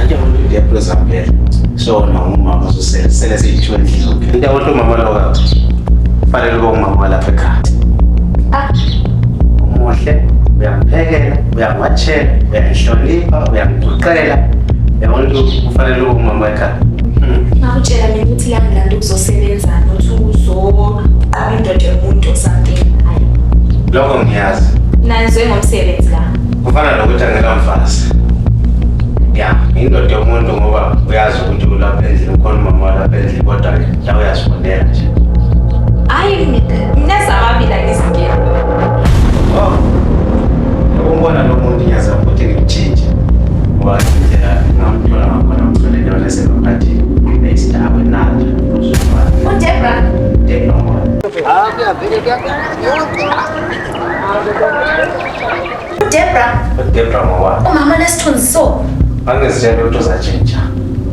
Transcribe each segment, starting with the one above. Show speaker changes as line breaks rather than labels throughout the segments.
Ake umuntu ndiyaphulo zampela. So na umama bazosela sele siyithiwe endlini zonke. Into yabantu umama lo ka. Fanele ube umama walapha ekhaya. Ah. Umuhle, uyamphekela, uyamwatshela, uyangihlonipha, uyamguqela. Yabona ukuthi kufanele ube umama ekhaya. Hmm. Ngakutshela
mina ukuthi la ngilanda ukuzosebenza nothi uzoqhuba indoda yomuntu or something. Hayi. Lokho
ngiyazi. Nanizwe ngomsebenzi
la. kufana nokuthi
angekamfazi ya indoda yomuntu ngoba uyazi ukuthi ulapha endlini ukhona umama walapha endlini kodwa ke la uyazibonela nje hayi
mina zamabila ngizinkinga
oh umbona lo muntu ngiyazama ukuthi ngimtshintshe ngoba indlela ngamthola ngakhona mthole lona esengamphathile nesidakwe nalo udebra debra hayi kuyavele kuyavele Debra. Debra mawala. Umama nesithunzi so.
Angizitshela ukuthi
uzatshintsha.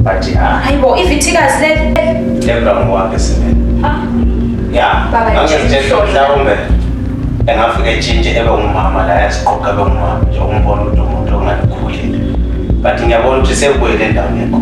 But hayi. Ah. Hayibo ivithikazi
leli. Debra mawala
simene. Ah. Ya. Angizitshela ukuthi
mhlawumbe
engafike etshintshe ebe ngumama la yasiqoqa ebe ngumama nje umbona ukuthi umuntu ongalikhulile. But ngiyabona ukuthi sekubuyele endaweni yakho.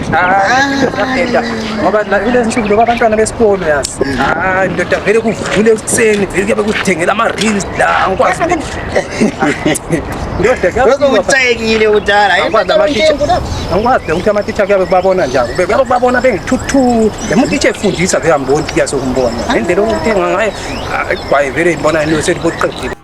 ngoba vile nsuku loba abantwana besikolo yazi hayi ndoda vele kuvule ekuseni vele kuyabe kuthengela ama-reels la ngikwazi
ndodakucekile kudala
angikwazi ukuthi amatitsha kuyabe kubabona njani kuyabe kubabona bengithuthu lemutitsha efundisa vele amboni kuyasokumbona nendlela okuthenga ngayo gwaye vele ngibona nto seliboqedile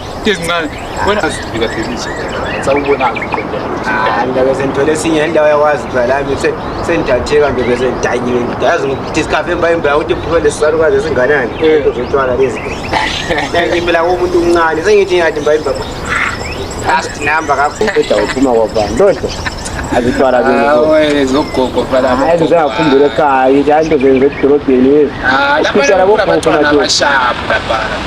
ngibeze ngithole esinye indawo yakwazi phela lami sendithatheka nje beze ngidanyiwe ngidazi ngidiscover emba emba ukuthi phuma lesisalukazi esinganani into zotshwala lezi ngiphila komuntu omncane sengithi ngathi mba imba last number kakhulu uphuma kwabani lodwa azitwala zogogo
hayi zizangakhumbula
ekhaya ukuthi hayi into zenze edolobheni ezi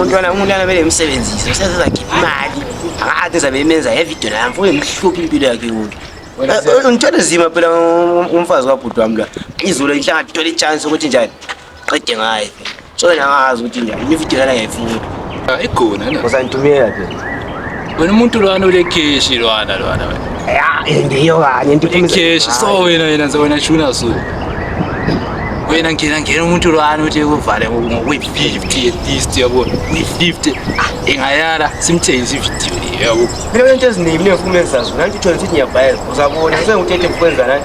umntwana
umntwana kumele imsebenzise usenza zakhipha imali akade zabe imenza yevidiyo nayo mfo uyemhlupha impilo yakhe kuyo Eh, ngithwele zima phela um- umfazi kabhuti wami la izulu inhlanga thola ichance ukuthi njani qede ngaye so nangazi ukuthi njani imividiyo lana ngiyayifuna Igona
na. usangitumela phela
Wena umuntu
lwana ulekeshi lwana lwana wena. Ya,
ndiyo kanye into ulekeshi so wena
wena nze wena shuna so. Wena ngena ngena umuntu lwana uthi kuvale ngokwi 50 at least yabo. Kwi 50. Ah, ingayala simthengise ivideo le yabo. Mina into eziningi mina
ngifuna uzazi. Nanti uthola ukuthi ngiyabhayela. Uzabona senguthethe ukwenza nani.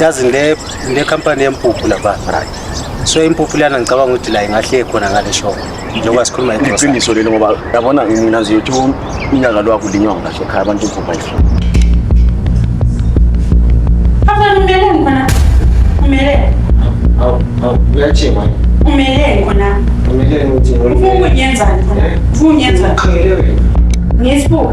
yazi
ngile ngile company yempuphu lapha right so impuphu lana ngicabanga ukuthi la ingahle khona ngale shop njengoba sikhuluma igrocery iqiniso leli ngoba yabona
mina nje uthi unyaka lo akulinywa ngila shop abantu impuphu ayifuni Papa umele ngona. Umele. awu awu uyajima Umele ngona.
umele
ukuthi
Ufuna unyenzani
khona? Ufuna unyenzani? uqhele
wena Ngesbo.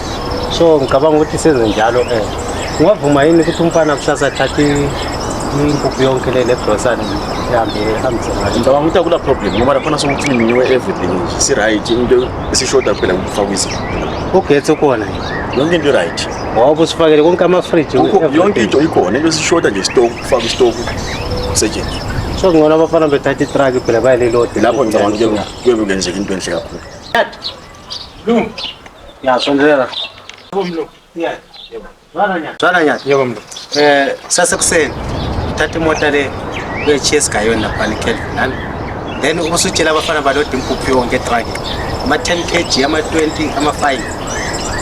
so
ngicabanga ukuthi senze njalo um eh. ungavuma yini ukuthi umfana kusasa athathe impuphu yonke le lebrosani ihambe ehambise ngayo ngicabanga ukuthi akula problem
ngoba laphana sokucleaniwe everything nje si-right into esishoda kuphela ngokufakwa izinto ugetsi ukhona
yonke into
i-right wawuba usifakele konke
amafriji yonke into ikhona
into esishoda nje isitoku kufaka isitoku kusetshenziswa so kungcono
abafana bethatha itraki phela bayalelode lapho ngicabanga kuyobe
kuyenzeka into enhle kakhulu Lume.
Ya sondelea. Lume. Ya. Baranya. Baranya. Yebo mlo. Eh
sasa
kuseni. Thatha imota le uyochiyesa ngayo naphana ekelvin nami then ube usutshela abafana balode impuphu yonke etraki ama-ten kg ama-twenty ama-five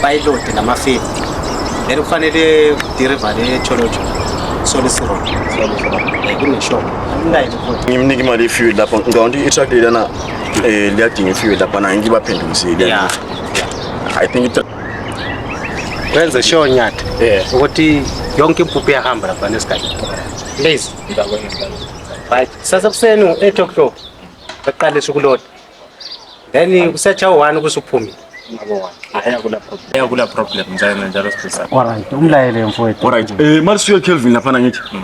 bayilode nama-fifty then kufanele dirivale echolojo solisirod kuneshopo ngimnike
imali yefuel lapho ngawonti itruck lelana Eh, lya tinyo fiwe da pana ingi bapenda musidi. Yeah.
I think
it
Kwenza show nyat. Yeah. Ukoti yonke mpupia hambra pana sky. Please. Right. Sasa kusenu 8 o'clock. Baqale sukulota. Then kusecha u1 kusuphume.
Ayakula problem njalo njalo sipesa. Alright, umlayele
mfowethu. Alright. Eh, mali siyo
Kelvin lapha ngithi. Hmm.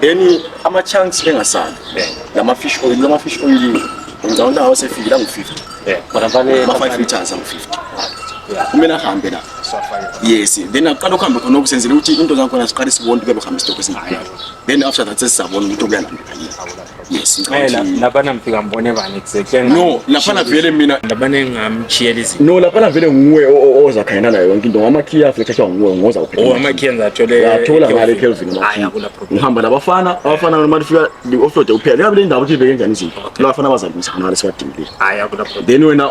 then ama-chunks engasali lama-fish oil lama-fish oil ngicabanga ukuthi awo sefikile angu-fifty ama-five
liters
angu-fifty kumele ahambe la yes then akuqala ukuhambe khona okusenzela ukuthi into zakhona siqale sibone ukuthi kuyabe uhambe isitokho esingaka then after that sesizabona ukuthi okuyalandela yini Ngicela laphana ngifika
ngibone bani exactly. No, laphana vele
mina laphana engamchiyela
izinto. No, laphana vele nguwe
oza khayena nayo yonke into. Ngama key afike thathwa nguwe ngoza uphela. Oh, ama key enza athole.
Yathola ngale Kelvin
ma. Hayi akula problem. Ngihamba labafana, abafana noma lifika li offload uphela. Yabe le ndawo ukuthi ibeke njani izinto. Labafana bazalisa ngale siwadingile. Hayi akula problem. Then
wena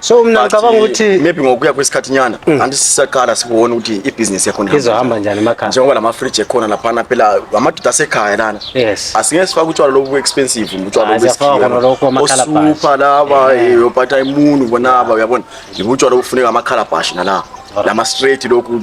so mina ngicabanga
ukuthi maybe ngokuya kwesikhathi
nyana mm. anti sisaqala sibone ukuthi ibhizinisi yakho izohamba njani emakhaya njengoba
lamafriji ekhona
laphana phela amadoda asekhaya lana yes asingeke sifake
utshwala lobu
expensive utshwala lobu
osupha laba
eh, yophatha imunu bonaba uyabona yibutshwala obufuneka amakhalabhashi nalapho lama straight lokhu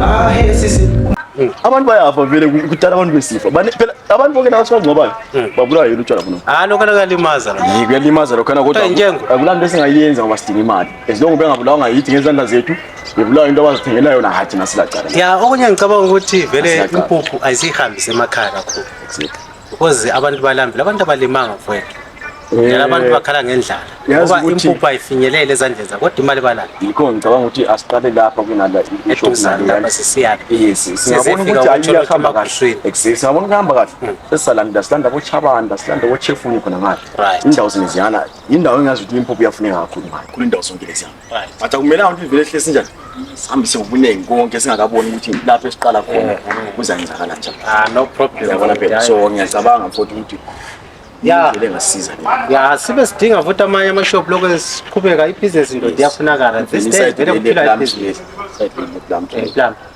Ah, hey, sisi. Mm. Abantu bayafa
vele kudala abantu besifa. Bane phela abantu bonke nawo sibangcobayo. Mm. Babulawa yini utshwala kuno? Ah, lokho kuyalimaza la.
Yiko kuyalimaza lokho na kodwa.
Akulanto esingayenza ngoba sidinga imali. As long bengabulawa ngayithi ngezandla zethu. Bebulawa into abazithengela yona hathi nasila cala. Ya, okunye ngicabanga
ukuthi vele impuphu ayisihambise emakhaya kakhulu. Exactly. because abantu balambile abantu abalimanga mfowethu Eh, abantu bakhala ngendlala ngoba impuphu ayifinyelele ezandleni zabo kodwa imali balayo yikho ngicabanga ukuthi
asiqale lapha kunala eduzanlapha
sisiyaphi singabona
ukuthi ayiyahamba kahle exactly singabona kuhamba kahle hmm. sesisalanda silanda bochabanda silanda bochefuni khona ngale indawo zingeziyana yindawo engazi ukuthi impuphu iyafuneka kakhulu ngale kulendawo zonke leziyana Athi akumelanga ukuthi ivele ehlesi njani. Sihambise ubuningi konke singakaboni ukuthi lapho esiqala khona kuzanzakala njani. Ah no problem. Yabona
phela so
ngiyacabanga futhi ukuthi ya
lengasiza
ya sibe
sidinga futhi amanye amashop lokho esiqhubeka ibhizinesi ndoda iyafunakala this day vele kuphila ibhizinesi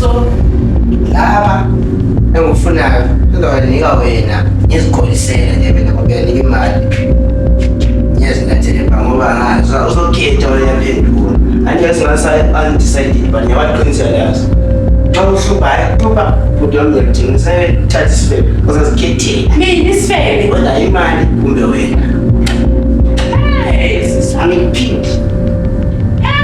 So,
laba
engikufunayo ngizowanika wena ngizikholisele nje mina ngoba uyanika imali ngiyazingathelemba ngoba ngazi uzokhetha uyaphendula andike singasaundecided but ngiyabaqinisela yazo xa uhlupha hayi uhlupha bhuti wami ngiyakudinga usayothatha isifebe uzazikhethela mina isifebe
wena imali
kumbe wena
angikuphindi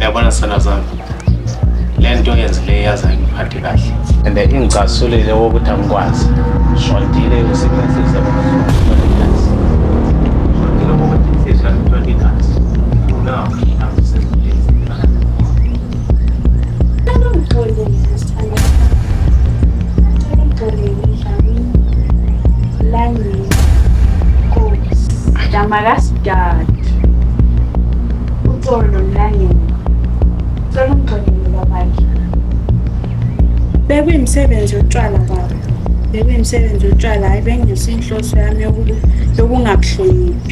Yabona sana zami. Lento yenzileyo yaze ngiphathe kahle. And ingcasulile wokuthi angikwazi. Shondile usebenzise
bekuyimsebenzi yotshwala baba bekuyimsebenzi yotshwala hayi bengesinhloso yami yokungakuhloniphi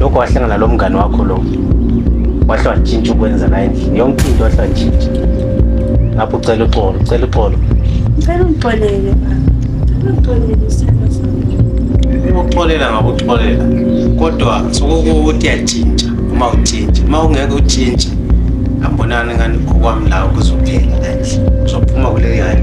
lokho wahlangana lo mngane wakho lo wahle watshintsha ukwenza la endlini yonke into wahle watshintsha ngapho ucela uxolo ucela uxolo
ngicela ungixolele ukuxolela
ngakuxolela kodwa sokukuthi yatshintsha uma utshintshe uma ungeke utshintshe ambonani ngani okwami lawo kuzophela la endlini uzophuma kuleli hali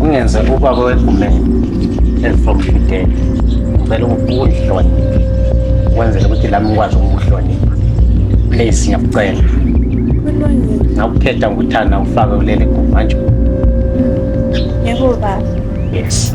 ungenze ubaba wegumeni ezifomfidele ngicela ukuhlonipha ukwenzela ukuthi lami ngikwazi ukukuhlonipha please ngiyakucela ngakukhetha ngikuthanda ufake kuleli gumanje yebo baba
yes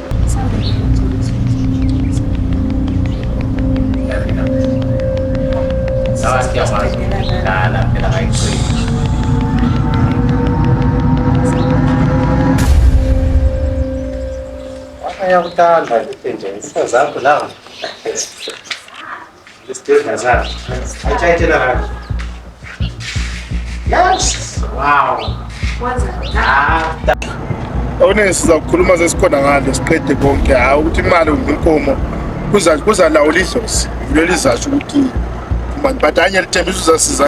Ayakuthanda nje, isazakho la.
okunengi sizakukhuluma sesikhona ngale siqede konke hayi ukuthi imali kumbe inkomo kuzalawula idlozi yilo lizasho ukuthi mani but anye lithembisa uzasiza